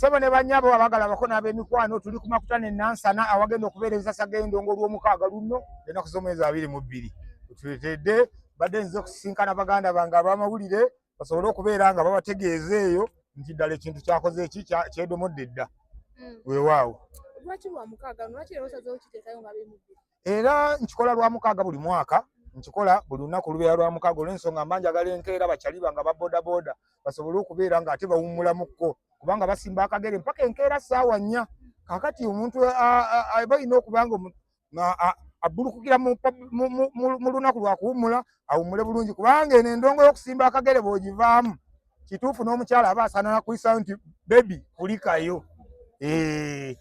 Sebo ne banyabo abagala bako na be mikwano tuli kumakutane nansana awagenda okubereza sagendo ngolwo mukaga lunno ena kuzomeza abiri mu biri tuletede bade nzo kusinkana baganda banga abama bulire basobole okubera nga baba tegeze eyo nti dale kintu kyakoze eki kya kyedo modedda mm. we wawo lwaki lwa mukaga lwaki lero sazo kitekayo ngabe mu biri era nkikola lwa mukaaga buli mwaka nkikola buli lunaku lubeera lwa mukaaga olw'ensonga mba njagala enkeera bakyali banga ba bodaboda basobole okubeera nga ate bawummulamukko kubanga basimba akagere mpaka enkeera ssaawa nnya kakati omuntu balina okuba nga abbulukukira mu lunaku lwa kuwummula awummule bulungi kubanga eno endongo y'okusimba akagere bw'ogivaamu kituufu n'omukyala aba asaana nakuyisayo nti bebi kulikayo eh.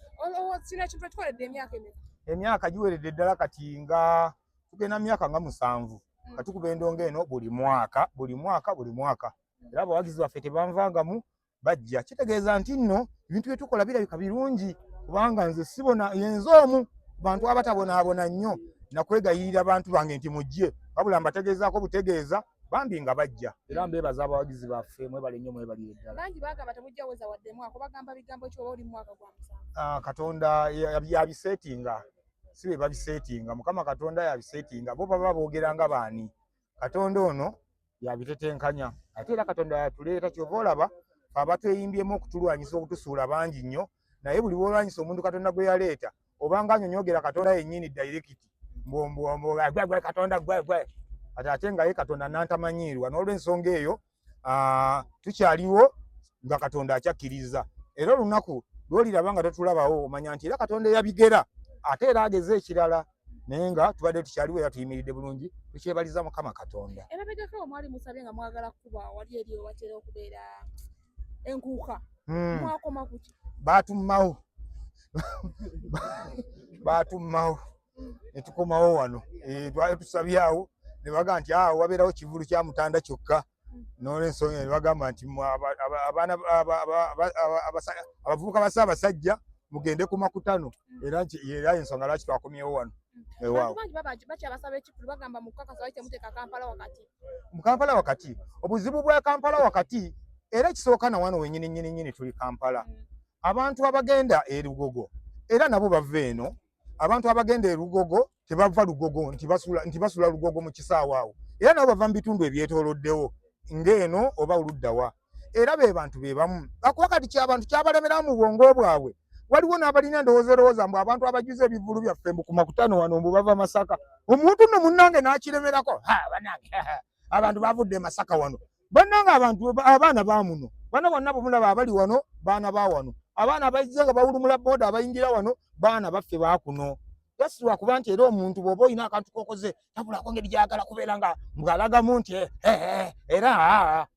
emyaka giweredde ddala kati nga tugenda myaka nga musanvu mm. nga tukuba endonga eno buli mwaka buli mwaka buli mwaka era abawagizi baffe tebanvangamu bajja kitegeeza nti nno ebintu byetukola birabika birungi kubanga nze sibona yenze omu bantu abatabonaabona nnyo nakwegayirira bantu bange nti mujje wabula mbategeezaako butegeeza bambi nga bajja era mbeebaza abawagizi baffe mwebale nnyo mwebalire ddala bangi bagamba temujja weza wadde mwaka bagamba bigambo kyoba oli mwaka gwa musanvu ah, katonda yabiseetinga si be babiseetinga mukama katonda yabiseetinga bo baba boogera nga baani katonda ono yabitetenkanya ate era katonda yatuleeta kyova olaba abatweyimbyemu okutulwanyisa okutusuula bangi nnyo naye buli bwolwanyisa omuntu katonda gwe yaleeta obanga anyonyogera katonda yenyini direct mbwembwembwegwegwe katonda gwegwe ati ate nga ye katonda nantamanyiirwa n'olwensonga eyo tukyaliwo nga katonda akyakkiriza era olunaku lwoliraba nga totulabawo omanya nti era katonda eyabigera ate era ageze ekirala naye nga tubadde tukyaliwo era tuyimiridde bulungi tukyebaliza mukama katonda enkuuka hmm. mwakoma kuki batummawo batummawo netukomawo wano eh, twali tusabyawo nebaga nti awo ah, wabeerawo kivulu kya mutanda kyokka nolwensonga nebagamba nti abavubuka basa abasajja mugende ku makutano era era ensonga lwaki twakomyewo wano mu kampala wakati obuzibu bwa kampala wakati era ekisooka na wano wenyini nyini nyini tuli kampala mm. abantu abagenda erugogo era nabo bava eno abantu abagenda erugogo tebava lugogo nti basula nti basula lugogo mu kisaawa awo era nabo bava mu bitundu ebyetooloddewo ng'eno oba oluddawa era be bantu be bamu akuba kati kyabantu kyabalemera mu bwongo bwabwe waliwo n'abalina endowooza erowooza mbu abantu abajuza ebivulu byaffe mbu ku makutano wano mbu bava masaka omuntu no munnange n'akiremerako ha banange abantu bavudde masaka wano bannange abantu abaana ba muno bana bonna bumulaba abali wano baana ba wano abaana abaizze nga bawulumula booda abayingira wano baana baffe bakuno yasirwa kuba nti era omuntu bw'oba olina akantu kokoze tabulako ngeri gyagala kubeera nga mbwalagamu nti eh, eh, eh, era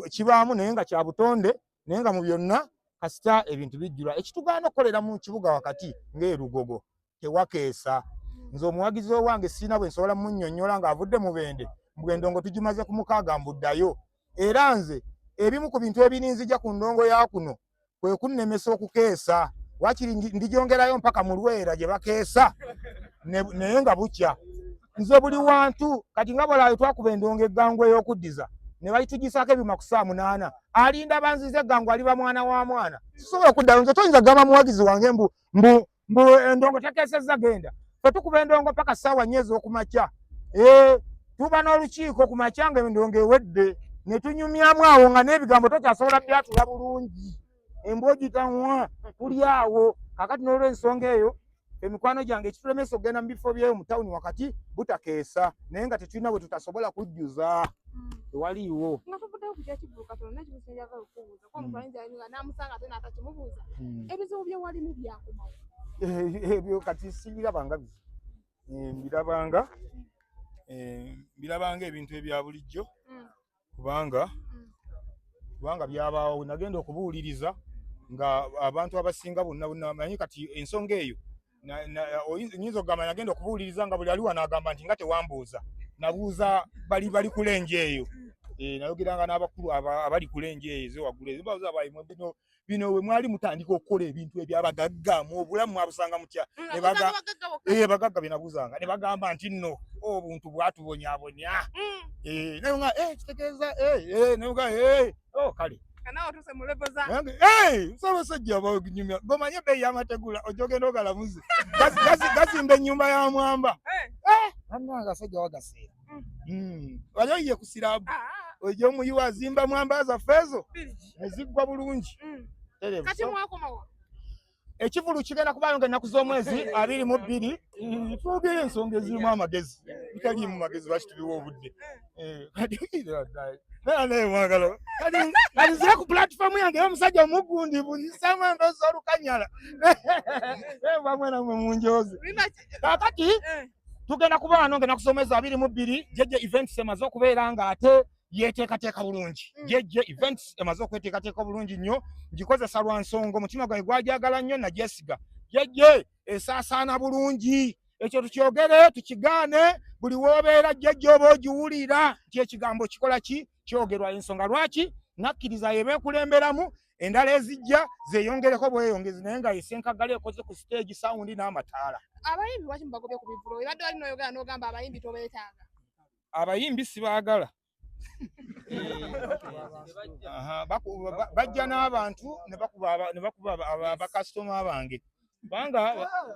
kibaamu naye nga kya butonde naye nga mu byonna kasita ebintu bijjula ekitugaana okukolera mu kibuga wakati ng'erugogo tewakeesa nze omuwagizi owange siina bwe nsobola munyonyola ng'avudde mu bende mbwendongo tugimaze ku mukaaga mbuddayo era nze ebimu ku bintu ebirinzija ku ndongo ya kuno kwe kunnemesa okukeesa wakiri ndigyongerayo mpaka mu lwera gye bakeesa naye nga bukya nze buli wantu kati nga bwalaayo twakuba endongo eggangu ey'okuddiza ne bayitugisaako ebyuma ku saa munaana alinda banziza eggangu aliba mwana wa mwana sisobola okuddayo nze toyinza gamba muwagizi wange mbu mbu mbu endongo tateesezza genda fe tukuba endongo paka ssaawa nnya ez'okumakya eh, tuba n'olukiiko ku makya nga endongo ewedde ne tunyumyamu awo nga n'ebigambo tokyasobola byatula bulungi embwogitanwa tuli awo kakati n'olwensonga eyo emikwano gyange ekitulemesa okugenda mu bifo byeyo mu tawuni wakati butakeesa naye nga tetulina bwe tutasobola kujjuza hmm. tewaliiwo ebyo kati sibirabanga bizi eh, mbirabanga eh, mbirabanga ebintu ebya bulijjo mm. kubanga mm. kubanga byabaawo nagenda okubuuliriza nga abantu abasinga bonna bonna manyi kati ensonga eyo nyinza okugamba nagenda okubuuliriza nga buli aliwo anagamba nti nga tewambuuza nabuuza bali bali kulenje eyo eh, nayogeranga n'abakulu abali kulenje eyo ezewaggulu ezibaza baimwe bino bino we mwali mutandika okukola ebintu ebyabagagga mu obulamu mwabusanga mutya eh, bagagga byenabuuzanga ne bagamba nti nno obuntu bwatubonyabonya mm. eh, naye nga kitegeeza naye nga oh, kale musabasajja abanyumya gomanye ebeeyi yamategula ojja ogenda ogalamuze gazimba enyumba ya mwamba anangasajja eh. eh, wagaseera mm. mm. wali oyiye ku sirabu ah, ah. oja omuyiwa azimba mwamba zaffe ezo eziggwa bulungi mm. ekivulu kigenda kubaayo nga ennaku z'omwezi abiri mu bbiri mm, twogere ensonga ezirimu amagezi bitaliimu magezi lwaki tubiwa obudde kalizira ku pulatifomu yange omusajja omugundi buzisamu endozi olukanyala bamwenamwe munjozi kakati tugenda kubaano nga ennaku z'omwezi abiri mu bbiri jeje events emaze okubeera nga ate yeteekateeka bulungi mm. jejje events emaze okweteekateeka obulungi nnyo ngikozesa lwa nsonga omutima gwange gwajagala nnyo nagyesiga jejje esaasaana bulungi ekyo tukyogere tukigaane buli woobeera jejje oba ogiwulira nti ekigambo kikola ki kyogerwa ensonga lwaki nakkiriza yebeekulemberamu endala ezijja zeyongereko bweyongezi naye nga esenkagala ekoze ku siteegi sawundi n'amataala abayimbi waki mubagobye ku bivulo ebadde wali noyogera n'ogamba abayimbi tobeetaaga abayimbi sibaagala bajja n'abantu ne bakuba bakasitoma bange kubanga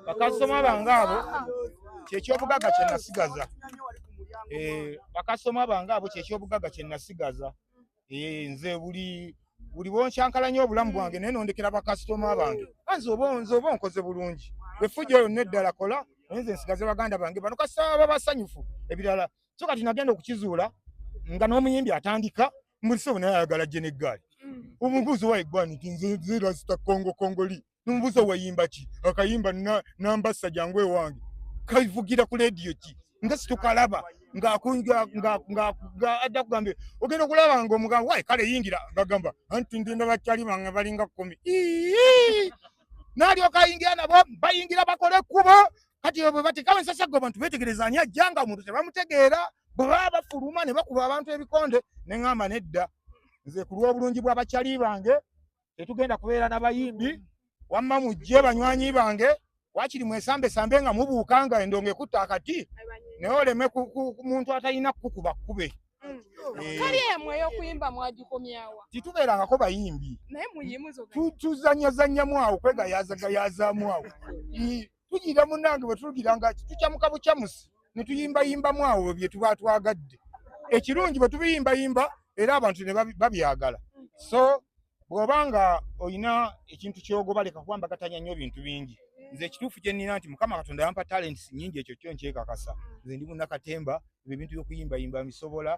bakasitoma bange abo kyekyobugaga kye nasigaza eh, bakasitoma bange abo kyekyobugaga kye nasigaza eh, nze buli buli bonkyankalanya obulamu bwange mm. naye nondekera bakasitoma bange anze ah, oba nze oba onkoze bulungi efujja yonna eddala kola naye nze nsigaze baganda bange bano kasita baba basanyufu ebirala so kati nagenda okukizuula nga n'omuyimbi atandika mulisobo naye ayagala jeneggaali mm. omubuuzi waeggwani nti nze nze rasita kongo kongoli nomubuuza wayimba ki akayimba nambassa jangu ewange kaivugira ku lediyo ki nga situkalaba ng'adda kugambye ogenda okulaba nga omugamba wayi kale yingira ngagamba anti ndi ndaba kyali bange balinga kumi nalyoka ayingira nabo bayingira bakole ekkubo kati bwe batekawo ensasaggo abantu betegereza ani ajja nga omuntu tebamutegeera bwe baba bafuluma ne bakuba abantu ebikonde ne ŋamba nedda nze ku lw'obulungi bw'abakyali bange tetugenda kubeera na bayimbi wamma mujje banywanyi bange wakiri mwesambesambe nga mubuuka nga endongo ekutta akati naye oleme ku muntu atalina kukuba kkube titubeerangako bayimbi tuzanyazanyamu awo kwegayazagayazamu awo tugira munange bwetugira nga tukyamuka bukyamusi netuyimbayimbamu awo byetuba twagadde ekirungi bwetubiyimbayimba era abantu nebabyagala so bwoba nga olina ekintu kyogoba leka kuba mbagatanya nnyo bintu bingi nze ekituufu kyenina nti mukama katonda yampa talents nyingi ekyo kyo nkyekakasa nze ndi munakatembaa ebyo ebintu byokuyimbayimba mbisobola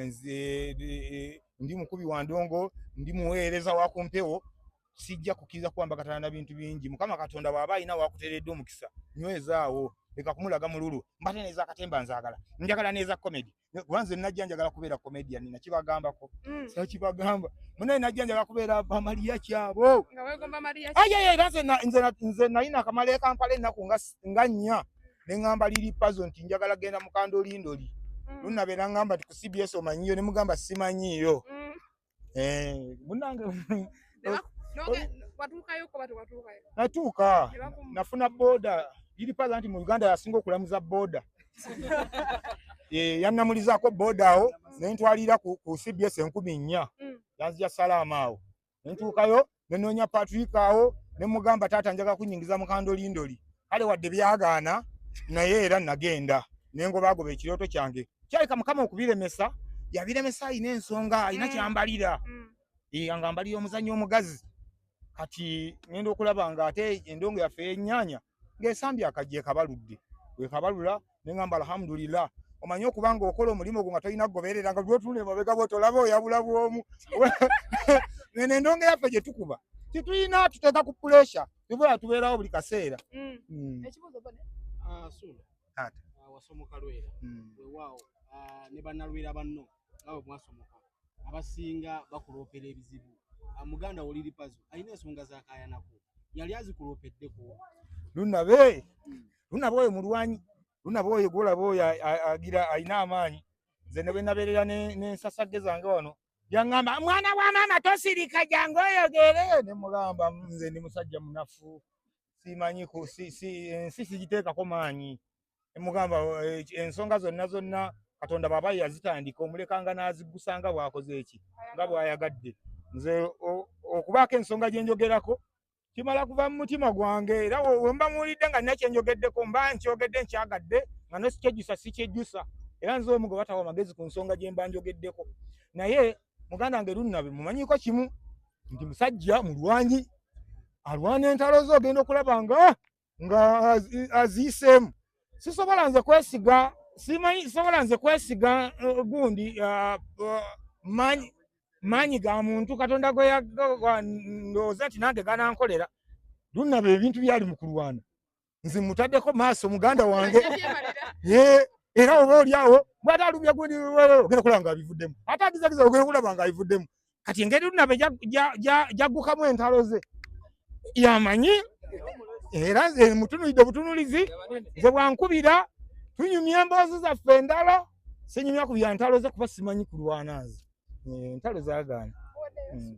nze eh, ndi mukubi wa ndongo ndi muweereza wa ku mpewo sijja kukkiriza kuwambakatana na bintu bingi mukama katonda bw'aba alina wakuteredde omukisa nywezaawo leka kumulaga mululu mbate neza katemba nzagala njagala neza comedy kuba nze najja njagala kubeera comedian nina kibagambako mm. sa kibagamba munaye najja njagala kubeera bamaliya kyabo ayayera nze nalina akamala ekampala ennaku nga nnya ne ŋŋamba liri pazo nti njagala genda mukanda olindoli mm. lunabeera ŋŋamba ti ku cbs omanyiyo ne mugamba simanyiyo mm. eh munange natuuka nafuna boda iri pala nti mu Uganda yasinga okulamuza boda eh, yannamulizaako boda awo nentwalira ku CBS enkumi nnya mm. yanzija salaama awo nentuukayo ne noonya Patrick awo ne mugamba taata njaga kunyingiza mukandolindoli kale wadde byagaana naye era nagenda nengobaagoba ekirooto kyange kyaleka mukama okubiremesa yabiremesa alina ensonga alina mm. kyambalira mm. Eh, nga mbalira omuzannyo omugazi kati ngenda okulaba nga ate endongo yaffe yennyanya ng'esambye akajja ekabaludde wekabalula ne ngamba alhamdulillah omanyi okuba nga okola omulimu ogwo nga tolina kugoberera nga lwotunula emabega bwe tolaba oyabula bwomu eno endongo yaffe gye tukuba tetulina tuteeka ku puresha tubula tubeerawo buli kaseera mm. Mm. Ah, ah, wasomokalwera mm. wewaawo ah, ne banalwera banno nga bwe mwasomoka abasinga bakuloopera ebizibu muganda woliri pazo alina ensonga zakayanako yali azikuloopeddeku lunabe lunaba oyo mulwanyi lunaba oyo gwolaba oyo agira alina amaanyi nze ne bwe nabeerera n'ensasagge zange wano yaŋŋamba mwana wa maama tosirika jangu oyogere ne mugamba nze ndi musajja munafu simanyi ensi sigiteekako maanyi emugamba eh, ensonga zonna zonna katonda baba yazitandika omulekanga n'aziggusa nga bw'akoze eki nga bw'ayagadde nze okubaako ensonga gye njogerako kimala kuva mu mutima gwange era wemba muwulidde nga nina kyenjogeddeko mba nkyogedde nkyagadde nga nosikyejusa sikyejusa era nze omu gwe batawa amagezi ku nsonga gye mba njogeddeko naye muganda wange lunnabe mumanyiko kimu nti musajja mulwanyi alwana entalo ze ogenda okulaba nga nga aziyiseemu sisobola nze kwesiga simanyi sobola nze kwesiga uh, gundi uh, uh, manyi maanyi ga muntu katonda gweyandowooza nti nange ganankolera lunaba ebintu byali mu kulwana nze mutaddeko maaso muganda wange era oba oliawo bwata alumya gundi ogenda kulaba nga abivuddemu ate agizagiza ogenda kulaba nga abivuddemu kati engeri lunabe jaggukamu entalo ze yamanyi era eh, mutunulidde obutunulizi ze bwankubira tunyumya emboozi zaffe endala sinyumya ku byantalo ze kuba simanyi kulwana nze eh, entalo zagaana hmm.